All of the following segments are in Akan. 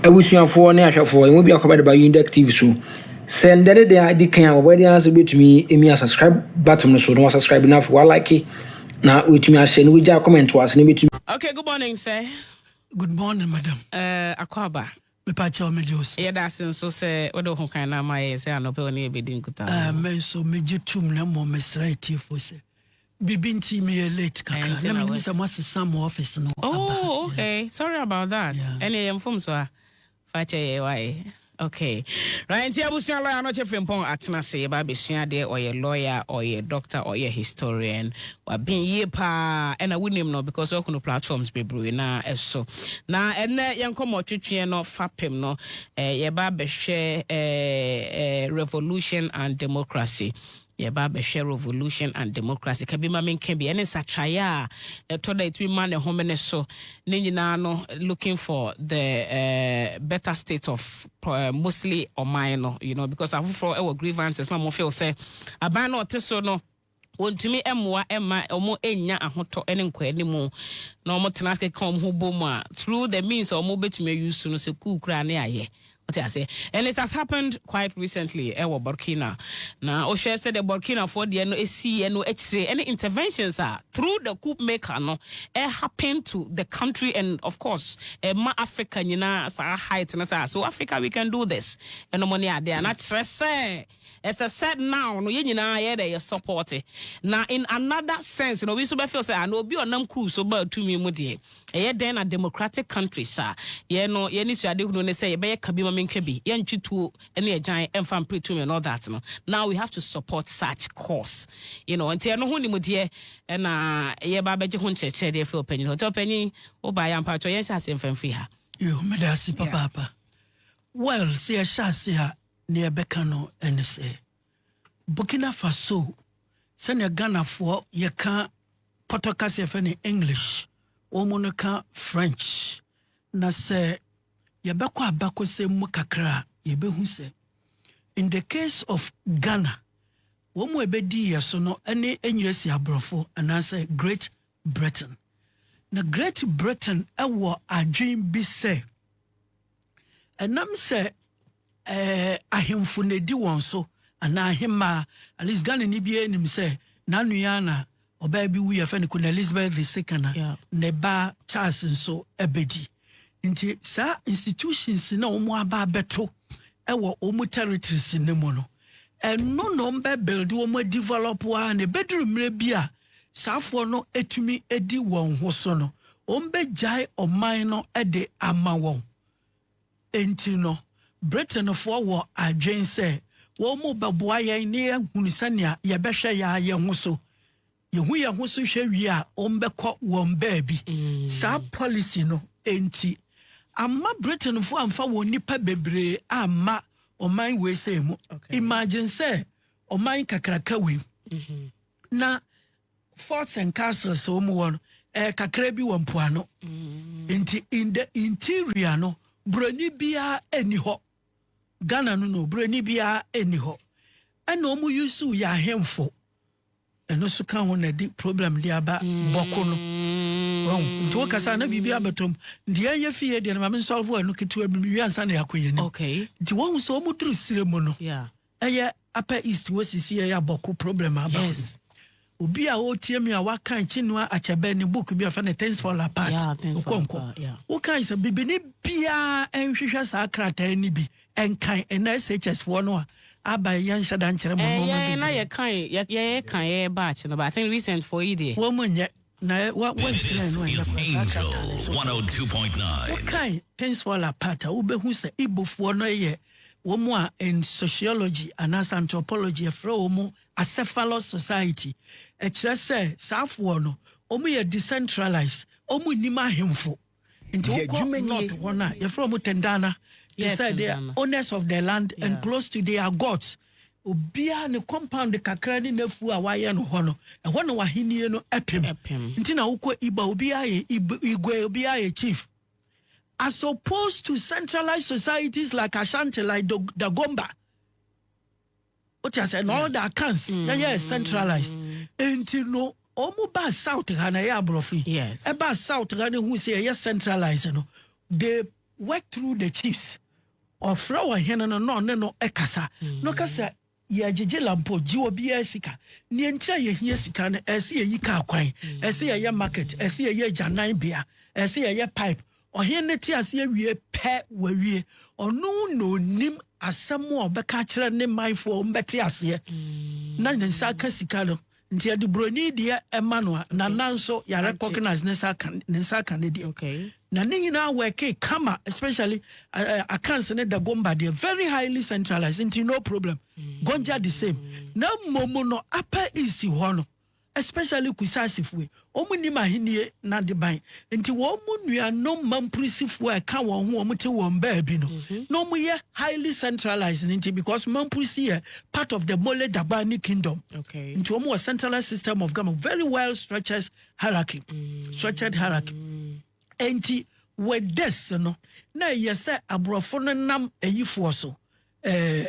Abusuafoɔ ne ahwɛfoɔ, yɛn mu biako bɛde ba Yundek TV so. Sɛ ndɛ ne deɛ adi kan a wɔbɛyɛ deɛ ase bɛtumi emia subscribe button no so na wasubscribe na afei walike na wɔatumi ahyɛ na wɔagya comment wɔ ase na ebɛtumi Okay, good morning sir. Good morning madam. Eh, Akwaaba. Mepa kyɛw megye wo so. Yɛda ase nso sɛ wode wo ho kan no ama yɛn sɛ anɔpa yi wo ne yɛn bɛdi nkutaho. Ah, me nso megye tom na mmom mesrɛ atiefoɔ sɛ Bibi nti meyɛ late kakra na menim sɛ moasesa mo office no aba. Oh ok sorry about that ɛneɛ yɛ mfomsoɔ a fa kyɛ yɛn wae ok right nti abusua lawyer Anokye Frimpong atena ase yɛba abɛsua adeɛ ɔyɛ lawyer ɔyɛ doctor ɔyɛ historian waben yie paa ɛna wonim no because woahunu platforms bebree na ɛso na ɛnɛ yɛn nkɔmmɔ twetweɛ no fapem no eh, yɛba abɛhwɛ eh, eh, revolution and democracy Yɛba abɛhwɛ Revolution and Democracy, ka bi ma menka bi, ɛne nsakyeraeɛ a ɛtɔ da a ɛtumi ma ne homene so, ne nyinaa no looking for the better state of mostly ɔman no, you know, because afoforɔ wɔ grievances na wɔn feel sɛ aban no ɔte so no wɔntumi mmoa mma wɔn nnya ahotɔ ne nkɔanimu na wɔn tena ase keka wɔn ho bom a through the means a wɔn bɛtumi ayi so no sɛ kuu koraa ne ayɛ Wote aseɛ? And it has happened quite recently wɔ Burkina. Na wohwɛ sɛdeɛ Burkinafoɔ deɛ no siiɛ no akyire ne interventions a through the coup maker no happen to the country and of course ɛma Africa nyinaa saa height no saa. So Africa we can do this nom ne adeɛ a na kyerɛ sɛ. Ɛsɛ sɛ now no yɛn nyinaa yɛyɛ dɛ yɛ support. Na in another sense no obi nso bɛ feel sɛ ah na obi a ɔnam coup so baa tumi mu deɛ ɛyɛ dɛn na democratic countries a yɛn no yɛn anisoadehunu ne sɛ yɛbɛyɛ ka bi ma menka bi, yɛntwe tuo ne agyan mfa mpere tumi and all that no. Now we have to support such cause. You know, nti ɛno ho nimdeɛ na yɛba abɛgye ho nkyerɛkyerɛ de afiri ɔpanyin hɔ. Nti ɔpanyin, wobaeɛ a mpakyɛw yɛnhyɛ aseɛ mfa mfiri ha. Yoo, meda ase Yeah. papaapa. Well, sɛ yɛhyɛ ase a, Nea ɛbɛka no ne sɛ, Burkina Faso, sɛnea Ghanafoɔ yɛka pɔtɔ kasa a yɛfrɛ no English, wɔn no ka French. Na sɛ yɛbɛkɔ abakɔsɛm mu kakra a, yɛbɛhu sɛ, in the case of Ghana, wɔn a ɛbɛdii yɛn so no ne Enyiresi Aborɔfo anaasɛ Great Britain. Na Great Britain wɔ adwene bi sɛ ɛnam sɛ ɛɛ ahemfo na edi wɔn so anaa ahemmaa at least Ghana ni biara nim sɛ n'anua na ɔbaa bi wu yɛfɛ no Queen Elizabeth the second na ne ba Charles nso abedi. Nti saa institutions na wɔn aba abɛto ɛwɔ wɔn territories no mu no, ɛno na wɔn bɛ build wɔn develop a na ɛbɛduru mmerɛ bi a saafoɔ no ɛtumi ɛdi wɔn ho so no, wɔn bɛgyae ɔman no ɛde ama wɔn. Nti no, Britainfoɔ wɔ adwene sɛ wɔn bɛboa yɛn na yɛahunu sɛnea yɛbɛhwɛ yɛn ara yɛn ho so Yehu yɛn ho so hwɛ wie a, wɔbɛkɔ wɔn baabi. Saa pɔlisi no nti, amma Britainfo amfa wɔn nnipa bebree amma ɔman weesei mu. Imagine sɛ ɔman kakraka wei na forts and castles a wɔn wɔ no, ɛyɛ kakra bi wɔ mpoano. Nti in the interior no, buroni biara nni hɔ. Ghana no no, buroni biara nni hɔ. Ɛna wɔn yusu yɛ ahemfo. ɛno nso ka ho na ɛde problem de aba bɔko no wahu nti wo kasa na biribi abɛtɔ mu nti yɛn yɛ fie deɛ no ma me nsɔlfo ɛno ketewa bi mewie ansa na yɛakɔ yɛn anim nti wahu sɛ wɔn duru sire mu no ɛyɛ upper east wɔ sisi ɛyɛ abɔko problem aba yes. obi a ɔretie mi a waka Chinua Achebe ne book bi a ɔfɛ no things fall apart nkɔnkɔ wokae sɛ bibini biara nhwehwɛ saa krataa ni bi Ɛnkan ɛnna SHS foɔ no a aba yi yɛn nhyɛ da nkyerɛ mo nnoɔma bebree. Ɛɛ na yɛ kan yɛ yɛ yɛ kan yɛ yɛ batch no but I think recent foɔ yi deɛ. Wɔn nyɛ na ɛ wa wɔn nhyira yɛn no ɛnyɛ paa saa krataa no nso oh wo kan things fall apart a wo bɛ hu sɛ Igbo foɔ no yɛ wɔn a in sociology anaasɛ anthropology yɛ frɛ wɔn acephalous society ɛkyerɛ sɛ saa foɔ no wɔn yɛ decentralized wɔn nnim ahemfo. Nti Yɛ wokɔ adwuma nie. north hɔ no a yɛfrɛ ɔmo tendana te Yeah, sɛ the Tendana. owners of the land and Yeah. close to their gods obiaa ne compound kakra ne n'afuo a wayɛ no hɔ no ɛhɔ na w'ahennie no ɛpem Ɛpem. nti na wokɔ iba obiaa yɛ Ib- igwe obiaa yɛ chief as opposed to centralized societies like ashanti like Dog- dagomba wote asɛ na all the accounts yɛyɛ centralized nti no ɔmo ba south ha na ɛyɛ aborɔfo yi Yes. ɛba south ha no hu sɛ ɛyɛ centralized no they work through the chiefs ɔfrɛ ɔhene no na ɔne no ɛkasa na ɔka sɛ yɛgyegye lampo gye obiara sika neɛ nti a yɛhia sika no ɛsɛ yɛyi kaa kwan ɛsɛ yɛyɛ market ɛsɛ yɛyɛ agyannan bea ɛsɛ yɛyɛ pipe Ɔhene no te aseɛ wie pɛ, wawie. Ɔno na ɔnim asɛm a ɔbɛka akyerɛ ne manfoɔ wɔn bɛte aseɛ na ne nsa aka sika no nti ɛde buroni deɛ ɛma no a nana nso yɛ recognize ne nsa aka ne nsa aka ne deɛ okay. na ne nyinaa wɔɛke kama especially uh, eh, eh, accounts ne the gomba deɛ very highly centralized nti no problem mm. gonja the same na mmom no apa east hɔ no especially Kusaasifo yi, wɔn nnim Ahenni n'adeban, nti wɔn nuanom Mampurisifo a ɛka wɔn ho a wɔte wɔn baabi no, mm-hmm. na wɔyɛ highly centralized no nti because Mampurisi yɛ part of the Mole Dagbani kingdom, okay. nti wɔn wɔ centralized system of government, very well structured hierarchy, mm-hmm. structured hierarchy, nti with this no na ɛyɛ sɛ aborɔfo no nam ayifoɔ so ɛɛ. Eh,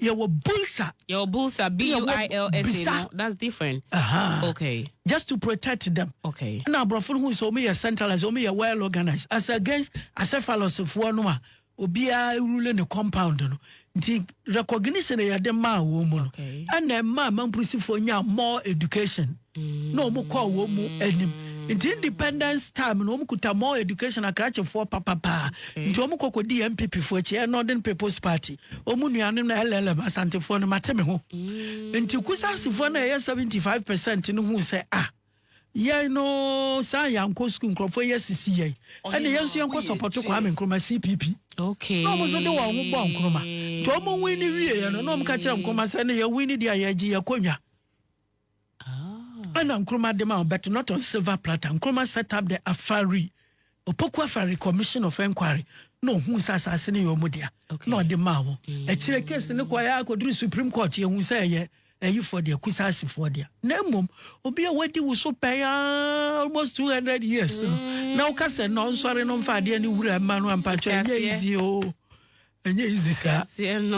yɛwɔ bulsa. yɛwɔ bulsa b u i l s a no that's different. Uh-huh. okay. just to protect them. okay. ɛna aborɔfo no hu sɛ wɔn yɛ centralized wɔn yɛ well organized as against acephalus foɔ no a obiara rule ne compound no nti recognition yɛde maa wɔn mu no ɛna ɛma mampurisifoɔ nya more education. na wɔn kɔɔ wɔn mu anim nti independence time na wɔn kuta more education akrakyefoɔ papapaa nti wɔn kɔkɔ di npp foɔ akyi ɛyɛ northern people's party wɔn nuanom na llm asantefoɔ no mate me ho nti kusasefoɔ na ɛyɛ seventy five percent no hu sɛ ah yɛn no saa yɛn ankɔ sukuu nkurɔfoɔ yɛ sisi yɛn ɛna yɛn nso yɛn kɔ sɔpɔtɔ kwame nkrumah cpp okay na wɔn nso de wɔn ho bɔ nkrumah nti wɔn win ne wie yɛn no na wɔn ka kyerɛ nkrumah sɛ ne yɛn win ne deɛ yɛgye yɛn kɔnya. Ɛna Nkrumah de ma wɔn but not on silver platter. Nkrumah set up the Afari, Opoku Afari Commission of Enquiry na ohun sɛ asase no yɛ wɔn dea na ɔde maa wɔn. Mm. Akyire case no kɔɛ a kɔduru Supreme Court yɛhu sɛ ɛyɛ ayifoɔ deɛ kusaasifoɔ deɛ na mmom obi a wadi wo so pɛn aa almost 200 years no mm. na woka sɛ na ɔnsɔre no mfa adeɛ ne wura mma no ampakyɛ ɛnyɛ easy o Ɛnyɛ easy saa.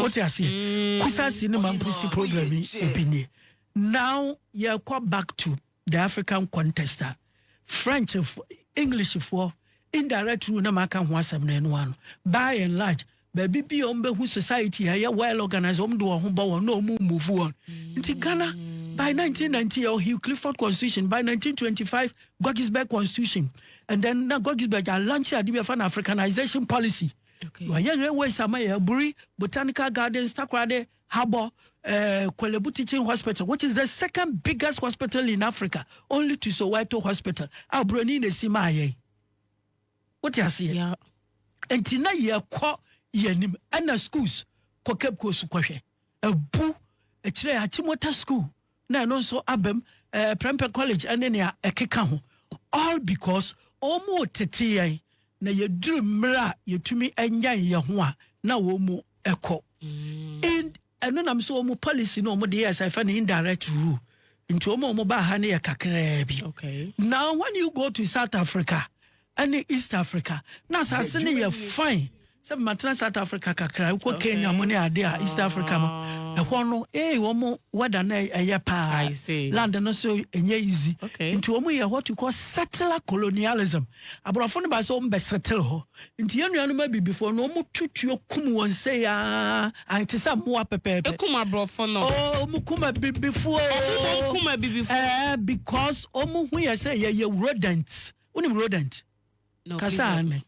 Wote aseɛ? Mm. Kusa si ne mampo si problem yi ebi nie. Now yɛkɔ back to the African context a French English foɔ indirect rule na maka ho asɛm na ɛno ano. By and large baabi bi a wɔbɛhu society a ɛyɛ well organized wɔn de wɔn ho bɔ wɔn na wɔn move wɔn. Nti Ghana by 1990 yɛ Hugh Clifford constitution by 1925 Gettysburg constitution and then na Gettysburg a launch ade bi afa na Africanization policy. Okay. Wɔayɛ railways ama yɛ Aburi, Botanical Gardens, Takoradi, Habor, uh, Korle Bu Teaching Hospital, which is the second biggest hospital in Africa, only to Soweto Hospital. A Buroni na si maa yɛn. Wote aseɛ? Yeah. Nti na yɛkɔ yɛnim ɛna schools kɔ Cape Coast kɔhwɛ. Abu, ɛkyerɛ Achimota School. na ɛno nso aba mu, ɛɛ Prempeh College ɛne nea ɛkeka ho, all because wɔn mo tete yɛn na yɛduru mmerɛ a yɛtumi nyan yɛn ho a na wɔn mu ɛkɔ. Mm. Ɛno nam so wɔn mo policy no wɔn de yɛ sɛ ɛfɛ no indirect rule, nti wɔn a wɔn baa ha no yɛ kakraa bi. Okay. Now when you go to South Africa, ne East Africa na asase no yɛ fine sɛ matena South Africa kakra wokɔ Kenya mu ne ade a East Africa no ɛhɔ no ee wɔn weather no ɛyɛ paa land no so ɛnyɛ easy nti wɔn yɛ what you call settler colonialism aborɔfo no ba sɛ wɔn bɛ settle hɔ nti yɛn nuanom abibifoɔ no wɔn tutuo kum wɔn sɛ yaa a te sɛ mmoa pɛpɛɛpɛ ekum aborɔfo no oo wɔn kum abibifoɔ wɔn kum abibifoɔ ɛɛ because wɔn hu yɛ sɛ yɛyɛ rodents. wonim rodent kasa ane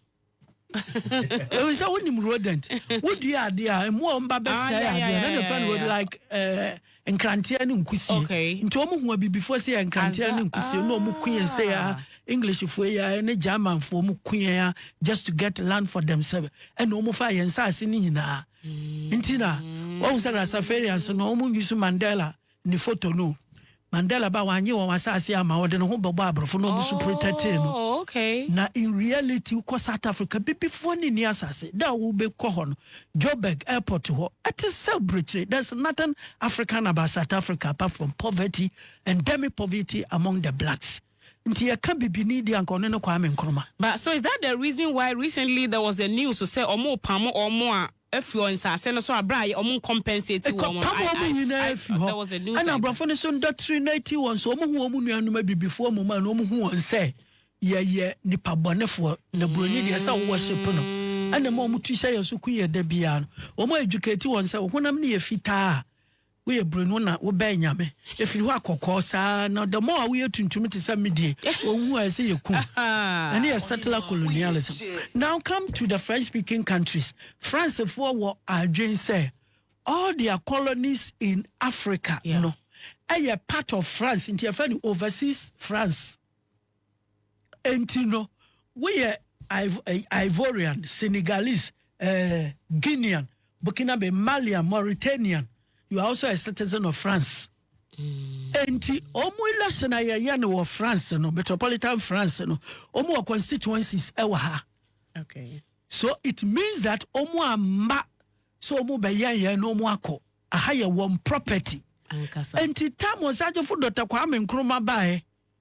ɛwɔ sɛ wonim rodent wodua adeɛ a mmoa wɔn ba bɛsɛe ah, adeɛ na ne fɛn no wɔde like eh, nkranteɛ ne nkusie nti wɔn hu abibifoɔ sɛ yɛ nkranteɛ ne nkusie na wɔn ku yɛn sɛ yɛ ah. englishfoɔ yi a ne germanfoɔ wɔn ku yɛn a just to get land for themselves ɛna wɔn fa yɛn nsaase ne nyinaa mm. nti na wɔn sɛ rasafarians no wɔn nyi so mandela Ne photo no Mandela ba wanye wɔn asaase ama ɔde ne ho bɛbɔ abrɔfo na ɔmo so protɛtee no Oh okay. na in reality wokɔ south Africa bibifoɔ ne nni asaase da a wobe kɔ hɔ no Joburg airport hɔ ɛte sɛ abrekyire there is nothing African about south Africa apart from poverty endemic poverty among the blacks. Nti yɛka bibini deɛ anka ɔno ne Kwame Nkrumah. But so is that the reason why recently there was a news sɛ ɔmo pamo ɔmo a afi ɔ nsaase no so a bere a ɔmo nkompensate wɔn no I I I thought there was a news like that. Ɛna aborɔfo no so ndɔtiri no ati wɔn so ɔmo hu ɔmo nuanom abibifoɔ mmom a na ɔmo hu wɔn sɛ yɛyɛ nipa bɔnefoɔ na buroni deɛ sɛ worship no ɛna ma ɔmo tu hyɛ yɛn so ku yɛn da biara no ɔmo educate wɔn sɛ ɔhonam no yɛ fitaa a Woyɛ brenu na wobɛn Nyame. Ɛfiri hɔ a kɔkɔɔ saa na the more a woyɛ tuntum te sɛ medie, wɔwu a ɛsɛ yɛku wo. Ɛno yɛ settler colonialism. Now come to the French speaking countries. Francefoɔ wɔ adwen sɛ all their colonies in Africa no ɛyɛ part of France nti yɛfɛ no overseas France. Enti no, woyɛ Ivorian, Senegalese, eh, Guinean, Burkinabe, Malian, Mauritanian, you are also a citizen of France. Enti, ɔmo election a yɛyɛ no wɔ France no, metropolitan France no, ɔmo wɔ constituencies ɛwɔ eh, ha. Okay. So it means that ɔmo amma so ɔmo bɛyɛ yɛn na ɔmo akɔ. Aha yɛ wɔn property. Ankasa. Enti tam ɔsajefo Dr. Kwame Nkrumah baeɛ.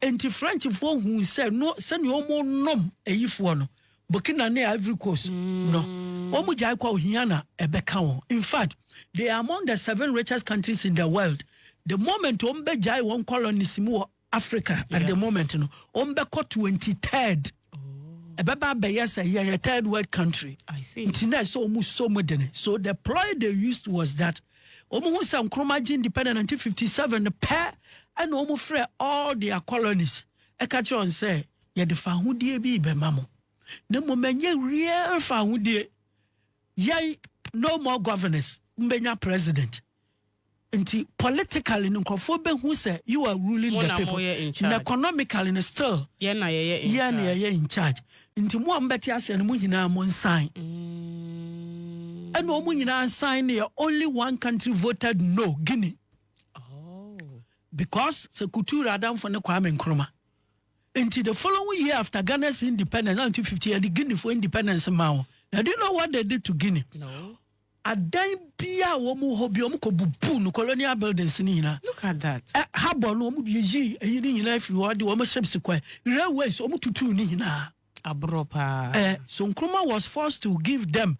Enti Frenchfoɔ huu sɛ no sɛdeɛ wɔnom ayifoɔ no, Burkina ne Ivory Coast no, wɔgyae kɔ a ohia na ɛbɛka wɔn. In fact, they are among the seven richest countries in the world. The moment wɔbɛgyae wɔn colonisim wɔ Africa at the moment no, wɔbɛkɔ 23rd. Ɛbɛba abɛyɛ sɛ yɛyɛ third world country. Nti na ɛsɛ wɔn sɔ mu dene. So the ploy they used was that. Wɔn hu sɛ Nkrumah gye independent 1957 no pɛ ɛna wɔn frɛ all their colonies ɛka kyerɛ wɔn sɛ yɛde fahodie bi bɛma mo na mmom ɛnyɛ real fahodie yɛn no more governors mbɛnya president nti politically no nkurɔfoɔ bɛhu sɛ you are ruling the people na economically no still yɛn na yɛyɛ in charge Nti mo a mobɛte aseɛ no, mo nyinaa mo nsan. Ɛna wɔn nyinaa nsan ne yɛ only one country voted no, Guinea. Oh. Because sɛ Couture adamfo ne Kwame Nkrumah. Nti the following year after Ghana's independence, 1950, yɛde Guinea for independence ma wɔn. Now do you know what they did to Guinea? No. Adan biaa a wɔn wɔ hɔ biaa wɔn kɔ bubuu no, colonial buildings no nyinaa. Look at that. Ɛ, harbour no wɔn yiyii ɛyi no nyinaa firi hɔ, ɛde wɔn ships kɔɛ, railways wɔn tutuu ne nyinaa. Aborɔ paa. Ɛ, so Nkrumah was forced to give them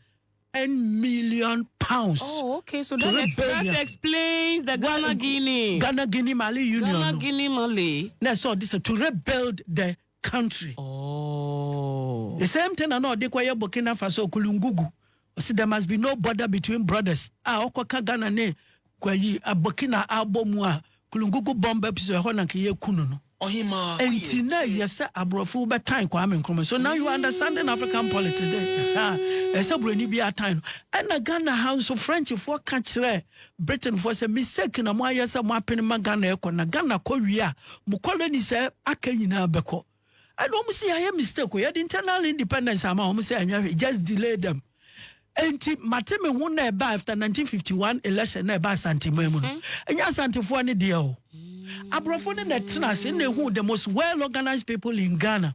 N million pounds. Oh ok, so that, ex, that explains the Ghana Guinea. Ghana Guinea Mali Union no. Ghana Guinea Mali. Na ɛsɛ ɔde sɛ to rebuild the country. Aww. The same thing na na ɔde kɔyɛ Burkina Faso Kulungugu. Ɔsi there must be no border between brothers a ɔkɔ ka Ghana ne kwayi Burkina abɔ mu a Kulungugu bomb bɛ pso ɛhɔ na nka yɛ ku no no. Ɔhemaa oyɛ Nti na tie. ɛyɛ sɛ abrɔfo wo bɛ tan Kwame Nkrumah so now you are understanding African politics then ɛhɛa ɛsɛ buroni biara tan no ɛna Ghana ha nso French foɔ ka kyerɛɛ Britain foɔ sɛ mistake na mo ayɛ sɛ mo apene ma Ghana ɛkɔ na Ghana kɔ wie a mo colony sɛ aka nyinaa bɛkɔ ɛna wɔn si yɛayɛ mistake o yɛde internal independence ama wɔn sɛ ɛnyɛ hwee just delay them nti mate me ho na ɛba after 1951 election na ɛba asanteman mu no mm-hmm. ɛnyɛ asantefoɔ ne deɛ o aborɔfo ne na ɛtena ase na ehu the most well organized people in Ghana.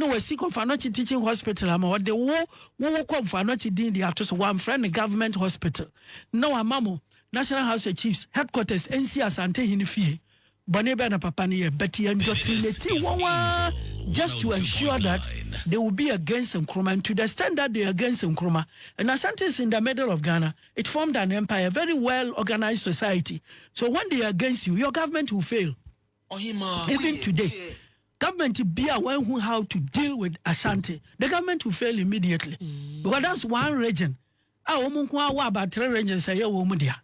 na wasi kɔ Mfanoakyi Teaching Hospital ama ɔde wo wo wo kɔ Mfanoakyi din de ato so wamfrɛ no Government Hospital na wama mo National House of Chiefs headquarters nsi Asantehene fie bɔne bɛn na papa no yɛ but yɛndɔtrinati wɔn ara just to ensure that they will be against Nkrumah and to the extent that they are against Nkrumah and Asante is in the middle of Ghana it formed an empire a very well organized society so when they are against you your government will fail Even today government bi a wɔn hu how to deal with Ashanti the government will fail immediately because that's one region a wɔn nko awɔ about three regions ɛyɛ wɔn dea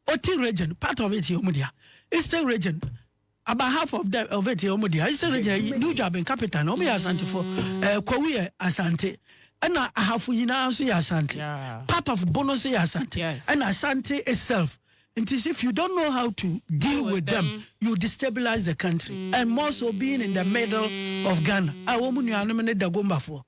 Oti region part of it yɛ wɔn dea Eastern region about half of them of it yɛ wɔn dea Eastern region yɛ New Jabin capital na wɔn yɛ Asantefo ɛɛ Kowi yɛ Asante ɛna ahafo nyinaa nso yɛ Asante part of Bono nso yɛ Asante ɛna Asante itself. Nti if you don't know how to deal with them, you destabilize the country and more so being in the middle of Ghana. A wɔn mu nuanom ne Dagombafoɔ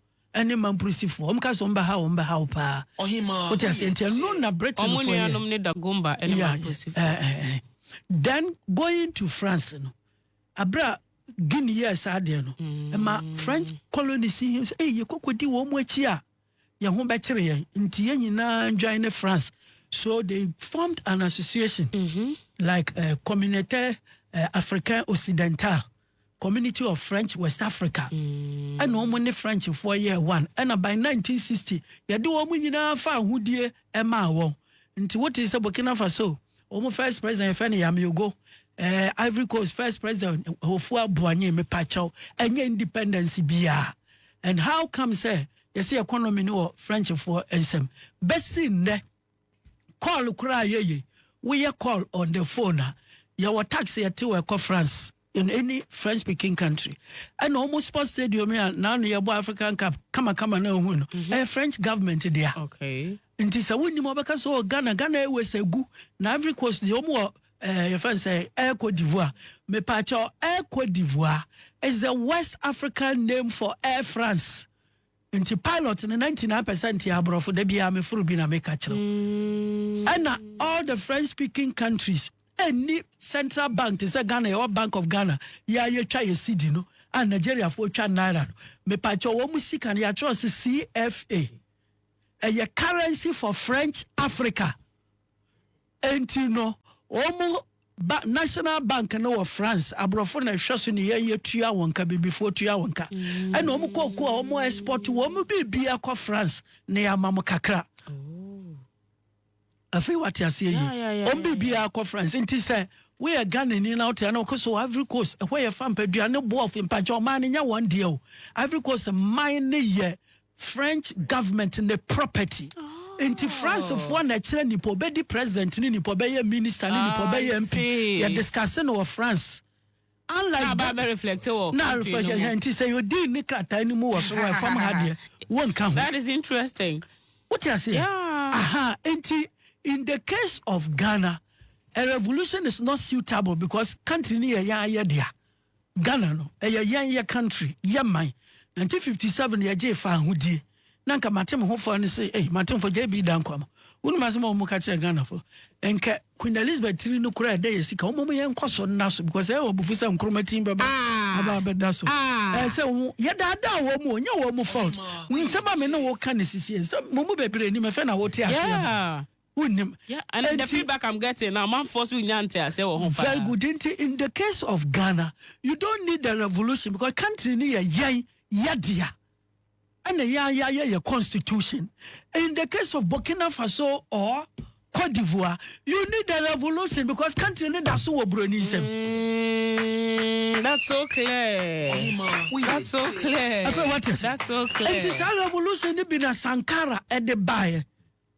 ne Mampurisifoɔ. Wɔn ka sɛ wɔn bɛha wɔn bɛha wo paa. Wote aseɛ nti ɛno na Britainfoɔ yɛ. Wɔn nuanom ne Dagomba ne Mampurisifoɔ. Then going to France no, abere a Guinea yɛ saa adeɛ no, ɛma French colonies yi sɛ ɛyɛ kɔkɔdi wɔn akyi a. yɛn ho bɛkyere yɛn nti yɛn nyinaa ndwan ne France so they formed an association mm -hmm. like uh, communauté uh, africain occidental community of French West Africa mm. ɛna wɔn ne Frenchfoɔ yɛɛ one ɛna by 1960 yɛde wɔn nyinaa fa ahodie ɛmaa wɔn nti wote sɛ Burkina Faso Wɔn first president yɛfrɛ no Yamiogo, ɛɛ eh, Ivory Coast first president Hofua Boanye mepakyɛw ɛnyɛ independence biara and how come sɛ yɛsɛ economy no wɔ Frenchfoɔ nsam bɛsi nnɛ call koraa yɛyɛ woyɛ call on the phone a yɛwɔ tax yɛte wɔ ɛkɔ France in any French speaking country. And almost sports stadium here now near African Cup kama kama na hu no. Mm-hmm. Eh, French government there. Okay. Nti sɛ wonni mu ɔbɛka sɛ ɔ Ghana Ghana Airways agu na Ivory Coast deɛ ɔmu wɔ eh, yɛfrɛ no sɛ Air Cote d'Ivoire mepaakyɛ Air Cote d'Ivoire is the West African name for Air France. Nti pilot no na nti na apɛ sɛ nte aborɔfo da biara me foro bi na meka kyerɛ wo ɛna all the french speaking countries ɛnni central bank te sɛ ghana yɛwɔ bank of ghana yɛ a yɛtwa yɛ cd no a nigeriafoɔ twa naira no mepakyɛ wɔn mu sika no yɛatwerɛ se cfa ɛyɛ currency for french africa Enti no wɔn ba National Bank no wɔ France, aborɔfo na ɛhwɛ so ne yɛn yɛtua wɔn ka, bibifoɔ tua wɔn ka. Ɛna wɔn kɔ ko a wɔn export wɔn biribi akɔ France na yɛama mo kakra. Afei wate aseɛ yi, wɔn biribi akɔ France nti sɛ woyɛ Ghanani na wote ana wokɔ so wɔ Ivory Coast ɛhɔ yɛ fa mpaduane boɔ mpakyɛ ɔman no nyɛ wɔn deɛ o Ivory Coast man no yɛ French government ne property. Nti France foɔ na ɛkyerɛ nipa ɔbɛdi president ne nipa ɔbɛyɛ minister ne nipa ɔbɛyɛ MP. Yɛ discuss no wɔ France. Unlike Ghana. Na reflect wɔ Na reflect no mu. Nti sɛ yɛ deal ne krataa no mu wɔ so wɔ ɛfam ha deɛ wɔnka ho. That is interesting. Wote aseɛ? Yeah. Aha, nti in the case of Ghana, a revolution is not suitable because country no yɛ yɛn ayɛdea. Ghana no ɛyɛ yɛn yɛ country yɛ man 1957 yɛ gyee faa ahodie na nka mate me ho faa ne se ei mate mfo JB Dankwama wonim asem a wɔn ka kyerɛ Ghana fo nka Queen Elizabeth tiri no koraa ɛdɛ yɛ sika wɔn yɛ nkɔ so nna so because ɛyɛ wɔbufu sɛ nkoroma tin bɛba ah. aba abɛda so ah. ɛyɛ sɛ wɔn yɛ daadaa wɔn mu ɔnyɛ wɔn mu fault nsɛm a me ne wɔka ne sisi nsɛm mo mu bebree nim ɛfɛ na wɔte aseɛ yeah. Wonnim. Yeah, and the Enti- feedback I'm getting na amanfoɔ so nya nteaseɛ wɔ ho paa. Very good. Nti in the case of Ghana, you don't need the revolution because country ni yɛ yɛn yɛ dea. Ɛna yɛn a yɛayɛ yɛ constitution. In the case of Burkina Faso or Cote d'Ivoire, you need the revolution because country ni da so wɔ buroni nsam. Mm, that's so clear. That's so clear. Afei what is? That's so clear. Nti saa revolution ni bi na Sankara ɛde baeɛ.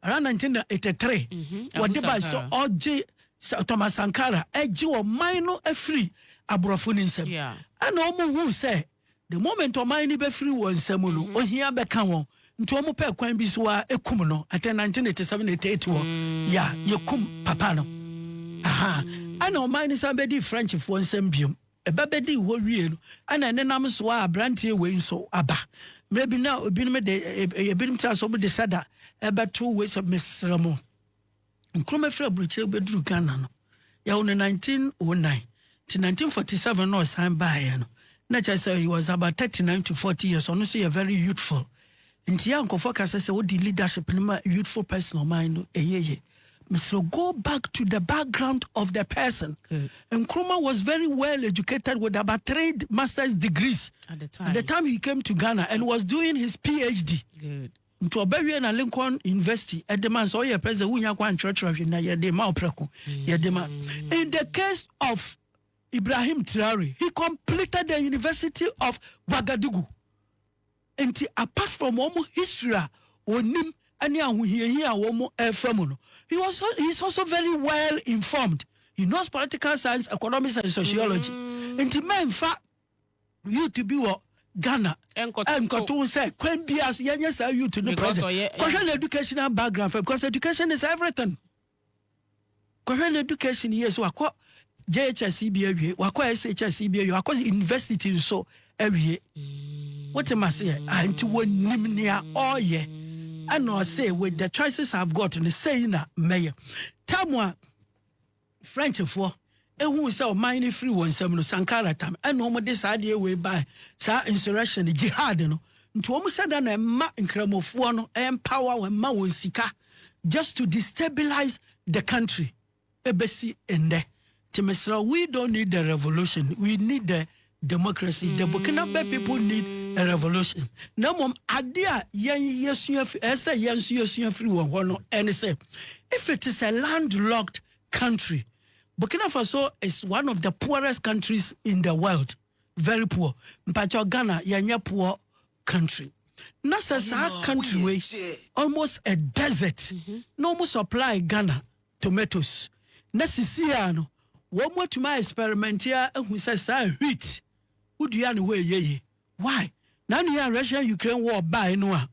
Around 1983, wɔde bae sɛ ɔgye sɛ Thomas Sankara agye ɔman no afiri aborɔfo no nsam. Ɛna wɔn huu sɛ the moment ɔman no bɛfiri wɔn nsam no, ohia bɛka wɔn. Nti wɔn pɛɛ kwan bi so ara ekum no. I think 1987, 88 hɔ, ya yɛkum papa no. Aha. Ɛna ɔman no san bɛdii Frenchfoɔ nsam biom. Ɛba bɛdii hɔ wiee no, ɛna ɛnenam so a aberanteɛ wei nso aba. Mmerɛ bi na ebinom de, ebinom tra so de hyɛ da ɛbɛto wei sɛ mesrɛ mo, Nkrumah firi aburokyire bɛduru Ghana no, yɛwo no 1909, nti 1947 na ɔsan baeɛ no, na kyerɛ sɛ he was about 39 to 40 years, ɔno nso yɛ very youthful. Nti a nkɔfoɔ ka sɛ sɛ wode leadership no ma youthful person ɔman no ɛyɛ ye. Mesrɛ go back to the background of the person. Nkrumah was very well educated with about three masters degrees at the time, at the time he came to Ghana and was doing his PhD. Good. Nti ɔbɛwie na Lincoln University ɛde ma sɛ ɔyɛ president wonya kwan nkyerɛkyerɛ hwe na yɛde ma ɔprɛko yɛde ma. In the case of Ibrahim Traore, he completed the University of Ouagadougou. Nti apart from wɔn history a ɔnim ne ahohiahia a wɔn refa mu no, he was he is also very well informed. He knows political science, economics and sociology. Nti mɛnfa youth bi wɔ Ghana nkɔto ho sɛ kwan biara so yɛnyɛ saa youth no project. Kɔhwɛ ne educational background fɛ because education is everything. Kɔhwɛ ne education years, wakɔ JHS bi awie, wakɔ SHS bi awie, wakɔ university nso awie. Wote ma seɛ? Ah, nti wɔnim nea ɔreyɛ. Ɛna ɔse with the choices I've got no sei na mɛyɛ. Tam a Frenchfoɔ Ehuu sɛ ɔman no firi wɔn nsam no, Sankara tam, ɛna wɔn de saa adeɛ wei baɛ, saa insurrection, jihad no, nti wɔn hyɛ da na mma nkramofoɔ no ɛmpower wɔn, mma wɔn sika, just to destabilize the country, ɛbɛsi nnɛ, nti mesrɛ wo, we don't need the revolution, we need the democracy, the Burkinabe people need a revolution, na mmom adeɛ a yɛn yɛsua firi, ɛyɛ sɛ yɛn nso yɛsua firi wɔn hɔ no, ɛne sɛ, if it is a land locked country, Burkina Faso is one of the poorest countries in the world very poor mpakyɛw Ghana yɛnyɛ poor country na sɛ saa country wei almost a desert mhm. na wɔn supply Ghana tomatoes na sisi a no wɔn atumi a experiment a ehu sɛ saa wheat wodua ne hɔ ɛyɛ yie. Why? Na nea Russia Ukraine war bae no a,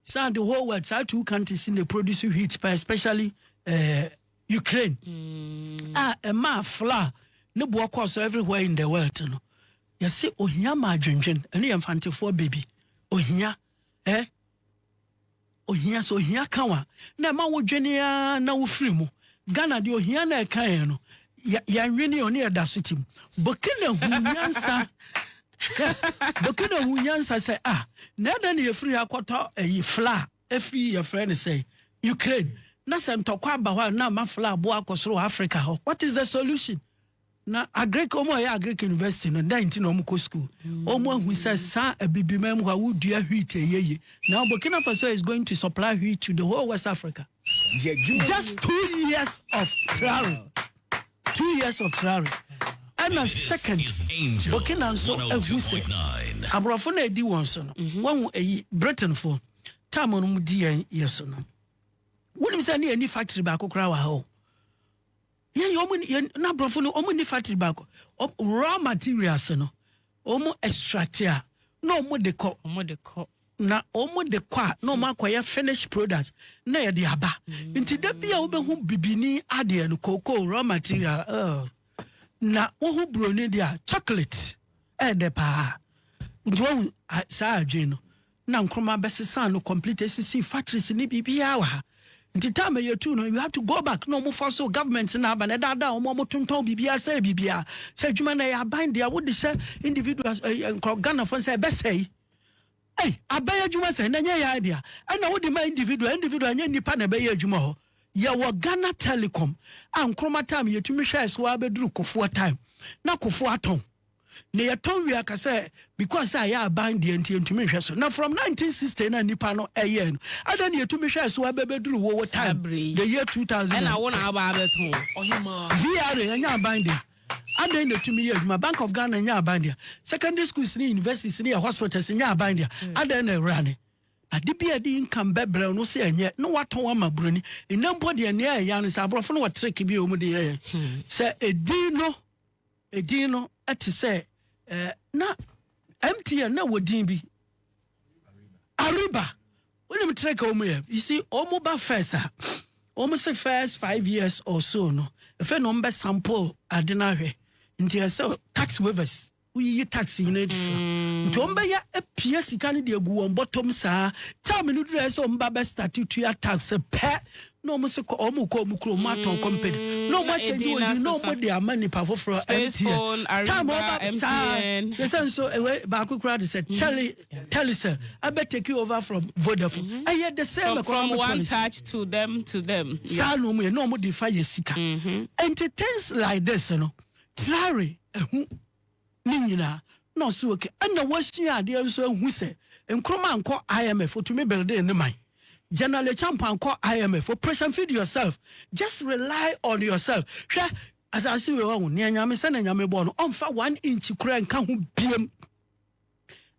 saa the whole world saa two countries in the produce wheat pa especially uh, Ukraine. Mm. Ah, ɛmaa flour ne boɔ kɔɔ so everywhere in the world no. Yɛse ohia ma adwendwen ɛne yɛn fantefoɔ baby. Ohia. Eh? Ohia sɛ ohia ka wo a na ɛma wo dwene aa na wo firi mu. Ghana deɛ ohia na ɛka yɛn no yɛn nwene ɔne yɛ da so tim. Burkina hu nyansa yes Burkina hu nyansa sɛ ah na ɛdɛ na yɛfiri ha kɔtɔ ɛyi fla ɛfiri yɛfrɛ no sɛ Ukraine na sɛ ntɔkwa aba hɔ a na ama fla aboa akɔ soro wɔ Africa hɔ what is the solution? Na Agric, wɔn a wɔyɛ Agric University no, dɛn nti na wɔkɔ sukuu? Wɔahu sɛ saa Abibiman mu hɔ a, wodua wheat a ɛyɛ yie. Now Burkina Faso is going to supply wheat to the whole West Africa. Just two years of traore. Two years of traore. Ɛna second, Burkina nso ahu sɛ aborɔfo na ɛdi wɔn so no. Mhm. Wɔhu ɛyi Britainfoɔ tam no mu di yɛn yɛ so no. Wonim sɛ ne ɛni factory baako koraa wɔ ha o. Yɛn yɛ wɔn yɛn na aborɔfo no wɔn ni factory baako wɔn raw materials no wɔn extract a na wɔn de kɔ wɔn de kɔ na wɔn de kɔ a na wɔn akɔyɛ finish product na yɛde aba mm. nti da bi a wobɛhu bibini adeɛ no cocoa raw material uh, na wohu buroni deɛ chocolate ɛɛdɛ paa nti wɔn saa adwene no. na Nkrumah bɛsesaa no complete esisii factories ne biribiara wɔ ha nti time a yɛtuu no you have to go back na wɔn force government na aba na ɛdaadaa wɔn wɔn tontɔn biribiara sɛe biribiara sɛ adwuma na ɛyɛ aban deɛ wode hyɛ individuals ɛɛ eh, eh, nkorɔ Ghanafoɔ sɛ ɛbɛsɛe ɛy abɛyɛ adwuma sɛ na nyɛ yɛ idea ɛna wode ma individual individual nyɛ nipa na ɛbɛyɛ adwuma hɔ yɛwɔ Ghana Telecom a Nkrumah time yɛtumi hwɛɛ so abɛduru kofoɔ time na kofoɔ atɔn Nea yɛtɔn wie aka sɛ because sɛ ayɛ aban deɛ nti yɛntumi nhwɛ so. Na from 1960 no a nnipa no yɛɛ no, adɛn na yɛtumi hwɛɛ so ara bɛbɛduru wo wo time, the year 2000. Ɛna wo na aba abɛtɔn. VRA ɛnyɛ aban dea, adɛn na ɛtumi yɛ adwuma? Bank of Ghana ɛnyɛ aban dea, secondary schools ne universities ne yɛn hospitals ɛnyɛ aban dea, adɛn na ɛwura ne? Ade bi a ɛde income bɛbrɛ wo no sɛ ɛnyɛ na woatɔn ama buroni. Nnɛ mpo deɛ nea ɛyɛ ara ne sɛ aborɔfo no wɔ trick bi a wɔde yɛ yɛn. Sɛ ɛdin no. Edin no te sɛ eh, na MTN na wɔ din bi. Ariba. Wonim tere ka wɔn yɛ. You see, wɔn ba first a, wɔn se first five years or so no, efe na wɔn bɛ sample ade no ahwɛ. Nti ɛsɛ tax waivers. Woyiyi tax nyinaa di so. Mm. Nti wɔn bɛyɛ apia sika no de agu wɔn bɔtɔm saa. Time no duru ɛsɛ wɔn ba bɛ start tua tax pɛ. na wɔn se kɔ wɔn rekɔ wɔn kurom, wɔn atɔn company, mm, na wɔn akyɛngye wɔn din, na wɔn de ama nipa foforɔ, mtn, time over, saa, yɛ sɛ nso, ɛwɛ, eh, baako kura de sɛ, mm. tele, telecell, ɛbɛ take over from Vodafone, mm-hmm. ɛyɛ the same, from one touch to them, to them, saa na wɔn yɛ, na wɔn de fa yɛ sika, ɛnti mm-hmm. things like this, no, trare, ɛho, ne nyinaa na ɔse ok ɛna wasua adeɛ nso ahu sɛ Nkrumah nkɔ IMF otumi building ne man General Acheampong ankɔ IMF operation feed yourself just rely on yourself hwɛ asase wei wahu nea nyame sɛnea nyame bɔɔ no ɔmfa one inch koraa nka ho biam.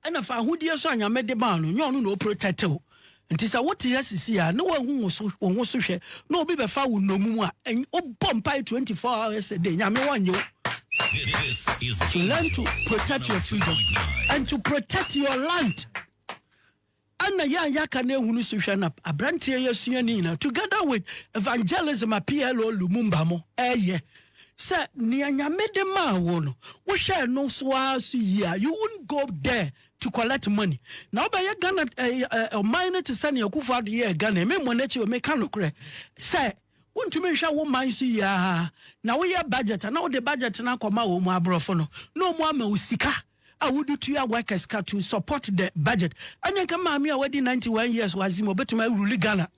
Ɛna fa ahodie nso a Nyame de maa no, nyɛ ɔno na ɔprotɛte wo. Nti sɛ wote ha sisi a na woahu wo so, wo ho so hwɛ, na obi bɛfa wo nnommum a, ɛny wobɔ mpae 24 hours a day, Nyame wɔnnye wo. This is So learn to protect your freedom and to protect your land. Ɛna yɛn a yɛaka no ahunu so hwɛ na abranteɛ yi asua ne nyinaa together with evangelism a PLO Lumumba mo ɛyɛ sɛ nea nyame de maa wo no wohwɛ ɛno so ara so yie a you won't go there to collect money na wobɛyɛ Ghana ɔman no te sɛ nea Akufo Addo yɛɛ Ghana me mmɔ n'akyi o meka nokorɛ sɛ wontumi nhwɛ wo man so yie a na woyɛ budget na wode budget no akɔma wɔn mu aborɔfo no na wɔn ama wo sika a wode tua workers ka to support the budget ɛne nka maame a wadi 91 years wɔ azim ɔbɛtumi awuruli ghana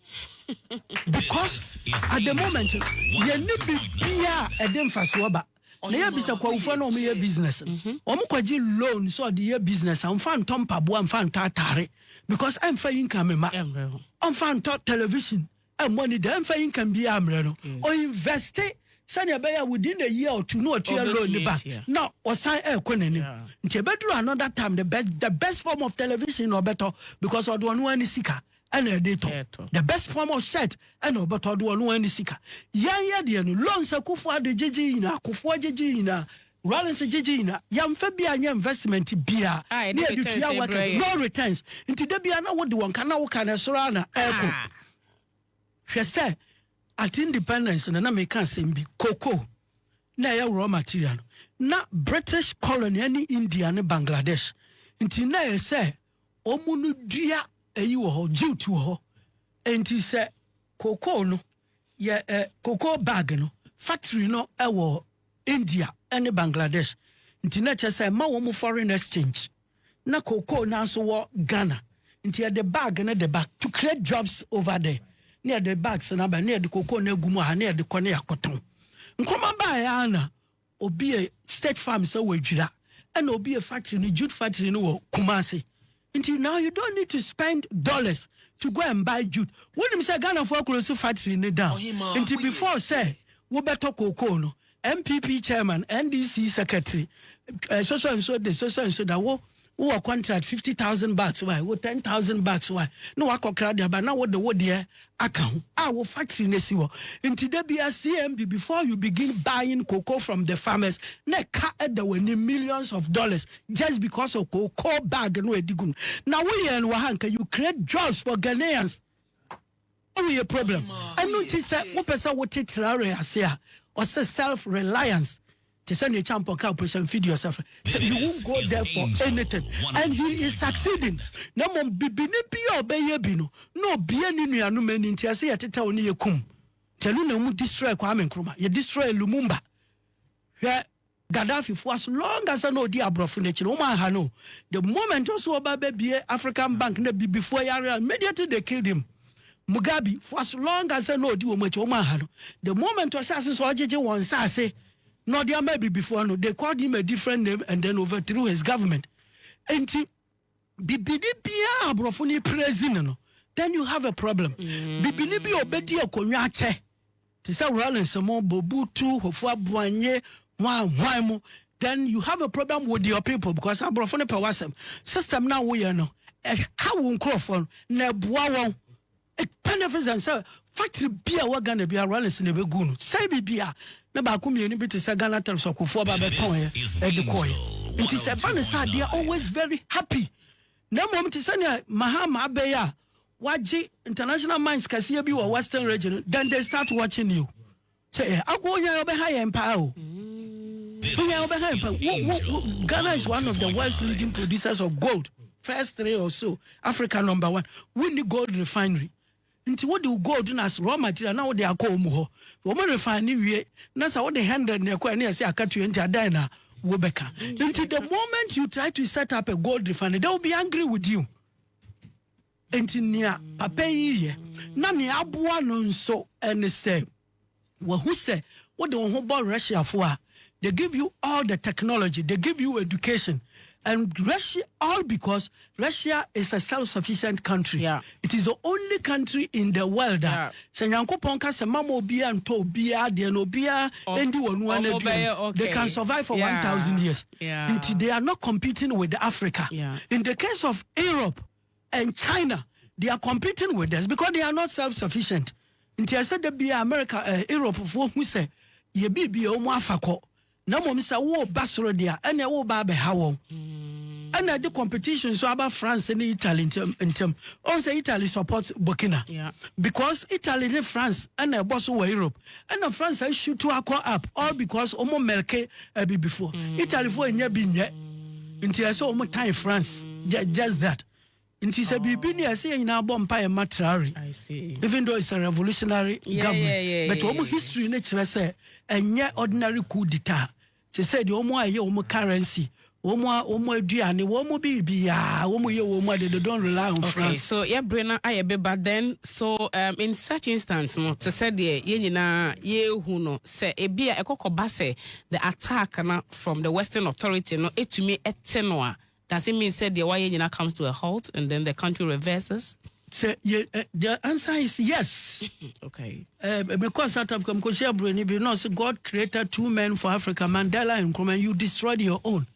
because at the moment yɛne bibia a ɛde mfasoɔ ba na yɛbisa kwawofoɔ na ɔmoyɛ business no mhm. ɔmokɔgye loan sɛ ɔde yɛ business a ɔmfa ntɔ mpaboa mfa ntɔ atare because ɛmfa yi nka me ma ɔmfa ntɔ television Ɛmmɔ anidaa mfa income biara mmrɛ no. Ɔinvɛste sɛnea ɛbɛyɛ a within a year or two na watua loan no back na wasan rekɔ n'anim. Nti ɛbɛduru another time no, the best form of television na ɔbɛtɔ because ɔde ɔno ara ne sika ɛna ɛde retɔ. The best form of shirt ɛna ɔbɛtɔ, ɔde ɔno ara ne sika. Yɛn yɛdeɛ no, loans a Kufuor de gyegye yi nyinaa, Kufuor gyegye yi nyinaa, Ralli se gyegye nyina yɛnfa bia nyɛ investment bia ne yɛde tua worker no no returns nti da bia na wode wɔn ka na woka no ɛsoro ara na ɛkɔ hwɛ sɛ at independence na na meka asɛm bi koko na ɛyɛ raw material no na British colony ne India ne Bangladesh nti na ɛyɛ sɛ wɔn no dua ɛyi wɔ hɔ jute wɔ hɔ nti sɛ koko no Yɛ ɛ cocoa bag no factory no wɔ India ne Bangladesh nti na kyerɛ sɛ ɛma wɔn foreign exchange. Na cocoa no ara nso wɔ Ghana nti yɛde bag no de ba to create jobs over there. Na yɛde bags no aba na yɛde cocoa no agu mu wɔ ha na yɛde kɔ na yɛakɔtɔn. Nkrumah baeɛ ara na Obi yɛ state farm sɛ wɔ Adwira ɛna obi yɛ factory no jute factory no wɔ Kumasi nti now you don't need to spend dollars to go and buy jute wonim sɛ Ghanafoɔ akolosi factory no down nti before sɛ wobɛtɔ kookoo no NPP chairman NDC secretary eh, sɔsɔ nso de sɔsɔ nso da wo wo wɔ contract fifty thousand bucks wa wo ten thousand bucks wa na wakɔ kra de aba na wo de wo deɛ aka ho a wo factory na si hɔ nti da bia CMB before you begin buying cocoa from the farmers na ɛka ɛda w'anim millions of dollars just because of cocoa bag no ɛdi gu no na woyɛ no wɔ ha nka you create jobs for Ghanaians Eyi yɛ problem. Ɛno nti sɛ wopɛ sɛ wote Traore ase a, ɔse self reliance te sɛ nea Champon kaa Operation Feed Yourself no, sɛ you won't go there for anything and he is succeeding, na mmom bibini bi a ɔbɛyɛ bi no na obue ne nuanom ani nti ɛse yɛtetɛw ne yɛkum nti ɛno na wɔn destroy Kwame Nkrumah, yɛ destroy Lumumba, hwɛ. Gaddafi fo as long as na odi abrɔfo no akyi no wɔn anha no the moment ɔso ɔba bɛ bie African bank na bibifoɔ yare a immediately they killed him Mugabe fo as long as na odi wɔn akyi wɔn anha no the moment ɔhyɛ ase sɛ ɔgyegye wɔn nsaase na ɔde ama abibifoɔ no they called him a different name and then overthrew his government nti Bibini biaa a aborɔfo no praise no no, then you have a problem. Bibini bi a ɔbɛdi akonwa akyɛ, te sɛ Rawlings mo, Bobutu, Hofua Boanye, hwan hwan mo, then you have a problem with your people because aborɔfo no pɛ w'asɛm. System no a woyɛ no, ɛha wo nkurɔfoɔ no, na ɛboa wɔn. It benefits and sɛ factory bi a ɛwɔ Ghana biara Rawlings na ɛbɛguu no sɛe biribi a, na baako mmienu bi te sɛ Ghana Telephs Akofoɔ ba bɛtɔeɛ de kɔeɛ. Nti sɛ ɛba no saa a, they are always very happy. Na mmom te sɛ nea Mahama abɛ yi a, wagye international mines kɛseɛ bi wɔ Western Region no, then they start watching you. Sɛ yɛ akɔ onyan ɔbɛ ha yɛn paa o. Onyan ɔbɛ ha yɛn paa. Wo wo wo Ghana is one of the world's leading producers of gold. First three or so Africa number one. Wo ni gold refinery. Nti wo de gold na as raw material na wo de akɔ omu hɔ. Wo mo refine ni wie na sa wo de hundred na ɛkɔ ɛne ɛsɛ akatua nti adan na wo bɛka. Nti the moment you try to set up a gold refinery they will be angry with you. Enti nea papa yi yɛ, na nea aboa no nso ne sɛ, wahu sɛ wode wo ho bɔ Russiafo a, they give you all the technology, they give you education, and Russia, all because Russia is a self-sufficient country. Yeah. It is the only country in the world a Yeah. sɛ Nyankopɔn ka sɛ mama obiara ntɔ obiara deɛ na obiara Ɔm- ndi wɔn nua ɔmo no aduane, bɛyɛ okay. they can survive for Yeah. 1,000 years. Yeah. Nti they are not competing with Africa. Yeah. In the case of Europe, and China they are competing with us because they are not self sufficient nti ɛsɛ da bia America eh, Europe foɔ hu sɛ yɛ biribi a wɔn afa kɔ na mmom sɛ woba soro deɛ a ɛna woba abɛha wɔn ɛna ɛde competition nso aba France ne Italy ntɛm ntɛm ɔn sɛ Italy support Burkina Yeah. because Italy ne France ɛna ɛbɔ so wɔ Europe Ɛna France ahyutu akɔ up all because wɔn mɛlke abibifoɔ. Mm. Italyfoɔ nyɛ bi nyɛ. Nti ɛsɛ wɔn tan France. Just that. Nti sɛ biribi ni ɛsɛ yɛn nyinaa bɔ mpa yɛ ma Traore. Even though it's a revolutionary yeah, government. Yeah, yeah, yeah, but wɔn history ne kyerɛ sɛ ɛnyɛ ordinary coup d'etat. Te sɛ deɛ wɔn a ɛyɛ wɔn currency, wɔn a wɔn aduane, wɔn biribiara, wɔn yɛ wɔn ade, they don't rely on Okay, France. so yɛ bere no ayɛ be ba then, so um in such instance no, te sɛ deɛ yɛn nyinaa yɛrehu no, sɛ ebia ɛkɔ kɔba sɛ the attack no from the western authority no tumi te no a, Does it mean sɛ deɛ wayɛ nyinaa comes to a halt and then the country reverses? Sɛ yɛ ɛ the answer is yes. Okay. Ɛɛ me kɔɔ South Africa me kɔ hyia buroni bi na ɔsi God created two men for Africa Mandela and Nkrumah and you destroyed your own.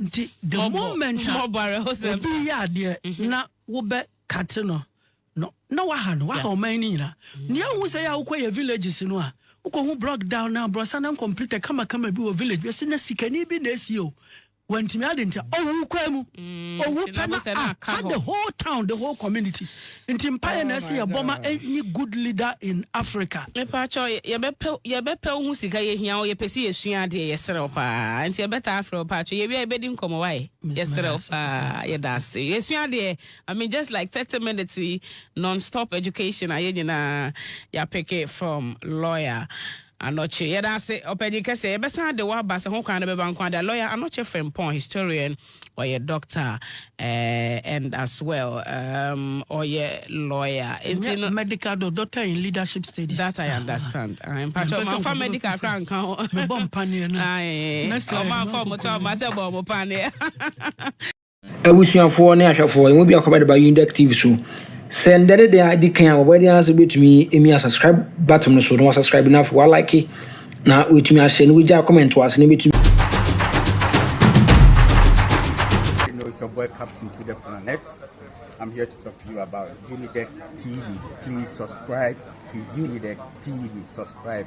Nti the Mɔbɔ. moment a Mɔbɔ awerɛhosɛm obi saa. yɛ adeɛ na wo bɛ kate no no na waha no waha Yeah. ɔman no nyinaa. Nea ehu sɛ yɛ a wokɔ yɛ villages no a wokɔ hu broke down na abrɔsan na uncompleted kamakama bi wɔ village bi ɔsi na sikani bi na esie o wantumi ade nti ɔwu kwan mu mm, ɔwu pɛ na aka the whole town the whole community nti mpaeɛ na ɛsɛ oh yɛbɔ ma ɛnyi good leader in africa mepaakyɛ yɛbɛpɛ wo ho sika yɛhia wo yɛpɛ sɛ yɛsua adeɛ yɛserɛ wo paa nti yɛbɛtaa afrɛ wo paakyɛ yɛwia yɛbɛdi nkɔmmɔ wae yɛserɛ wo paa yɛda ase yɛsua adeɛ i mean just like 30 minutes non-stop education a yɛ nyinaa yɛapeke from lawyer Anokye, Yɛda ase, Ɔpanyin Kɛse. Yɛbɛsan de wo aba sɛ ho kwan no bɛba nko ara de. Lawyer Anokye Frimpong, historian, ɔyɛ doctor eh, and as well um, ɔyɛ lawyer. Enti no. Ɛnyɛ medical do, doctor in leadership studies. That I understand. Aye, mpakyɛ, Mempɛ sɛ ɔmanfa nkɔfo medical bɛka sɛ koraa nka ho. mebɔ mpaneɛ no. Aye, Next time no, ɔmanfa ɔmo to nkɔkɔ aba sɛ bɔ ɔmo paneɛ. Abusuafoɔ ne ahwɛfoɔ, yɛn mu biako bɛde ba Yundek TV so. Sɛ ndɛ ne deɛ adi kan a, wɔbɛyɛ deɛ ase bɛtumi emi a subscribe button no so na wasubscribe na afei walike na wɔatumi ahyɛ na wɔgya comment wɔ ase na bɛtumi. Boy Captain to the Planet. I'm here to talk to you about Unidec TV. Please subscribe to Unidec TV. Subscribe.